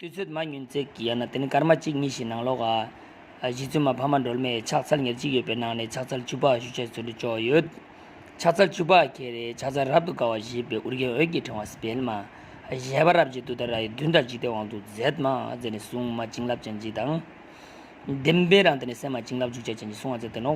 དུས་ཚོད་མ་ཉུང་ཚེ་ཡང་ན་དེ་ནི་སྐར་མ་གཅིག་གཉིས་ཤིག་ནང་ལོགས། གཞིས་རྩོད་མ་ཕ་མ་སྒྲོལ་མས་ཕྱག་འཚལ་ཉེར་གཅིག་ཡོད་པའི་ནང་ནས་ཕྱག་འཚལ་བཅུ་ཕག་བཞུ་བྱས་ཚུལ་དུ་ཅོག་ཡོད། ཕྱག་འཚལ་བཅུ་ཕག་གི་རེའི་ཕྱག་འཚལ་རབ་ཏུ་དཀར་བ་བཞེས་པའི་དབུར་རྒྱན་འོད་ཀྱི་ཕྲེང་བ་སྤེལ་མ། གཞལ་བ་རབ་འཇིགས་དུས་ད་ར་ཡི་མདུན་དང་འཇིག་རྟེན་དབང་དུ་མཛད་མ་མཛད་ནས་སྲུང་མ་བྱིན་རླབས་ཅན་གྱིས་དང། བདེན་པའི་རང་དེ་ནི་སེམས་མ་བྱིན་རླབས་འཇུག་བྱ་ཅན་གྱིས་སྲུང་བ་མཛད་དོན་ནོ།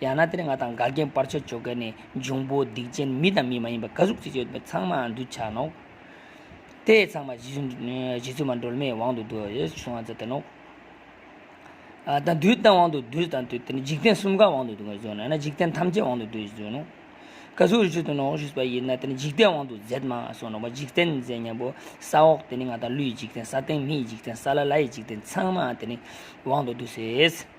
ཡང་ན་དེར་ང་དང་དགའ་རྒན་པར་ཆ་འཇོག་མཁན་ནི་འབྱུང་པོ་སྡིག་ཅན་མི་དང་མི་མ་ཡིན་པ་དགའ་གཟུགས་ཅི་ཡོད་པའི་ཚང་མའང་འདུ་བྱ་ནོ། དེ་ཚང་མ་རྗེ་བཙུན་མ་སྒྲོལ་མའི་དབང་དུ་འདུ་ཞེས་གསུང་བ་ཙམ་དེ་ནོ། དང་དུས་དང་དབང་དུ་འདུ་དང་དུས་འཇིག་རྟེན་གསུམ་ག་དབང་དུ་འདུ་ཞེས་གསུང་ན་ཡང་ན་འཇིག་རྟེན་ཐམས་ཅད་དབང་དུ་འདུ་ཞེས་གསུང་ནོ། དགའ་གཟུགས་རི་ཁྲོད་དུ་ནོ་ཞེས་པ་ཡིན་ན་དེ་ནི་འཇིག་རྟེན་དབང་དུ་མཛད་མ་སོགས་ནོ། འཇིག་རྟེན་མཛད་སྙམ་པོ་ས་འོག་དེ་ནི་ང་དང་ཀླུའི་འཇིག་རྟེན་ས་སྟེང་མིའི་འཇིག་རྟེན་ས་ལ་ལའི་འཇིག་རྟེན་ཚང་མའང་དེ་ནི་དབང་དུ་འདུ་ཞེས།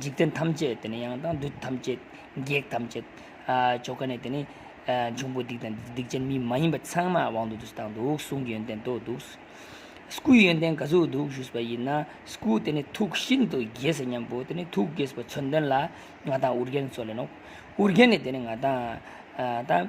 འཇིག་རྟེན་ཐམས་ཅད་དེ་ནི་ཡང་དང་བདུད་ཐམས་ཅད། བགེགས་ཐམས་ཅད། ཆོ་ག་ནི་དེ་ནི། འབྱུང་པོ་སྡིག་དང་སྡིག་ཅན་མི་མ་ཡིན་པ་ཚང་མ་དབང་དུ་བསྡུ་དང་བསྡུ་གསུང་གི་ཡོན་ཏན་དུ་བསྡུ། སྐུའི་ཡོན་ཏན་ག་ཚོད་བསྡུ་ཞུས་པ་ཡིན་ན། སྐུ་དེ་ནི་ཐུགས་ཤིན་ཏུ་དགྱེས་སོ་སྙམ་པོ་དེ་ནི་ཐུགས་དགྱེས་པའི་མཚོན་དོན་ལ། ང་དང་ཨུ་རྒྱན་སོགས་ལས་ནོ། ཨུ་རྒྱན་ནི་དེ་ནི་ང་དང།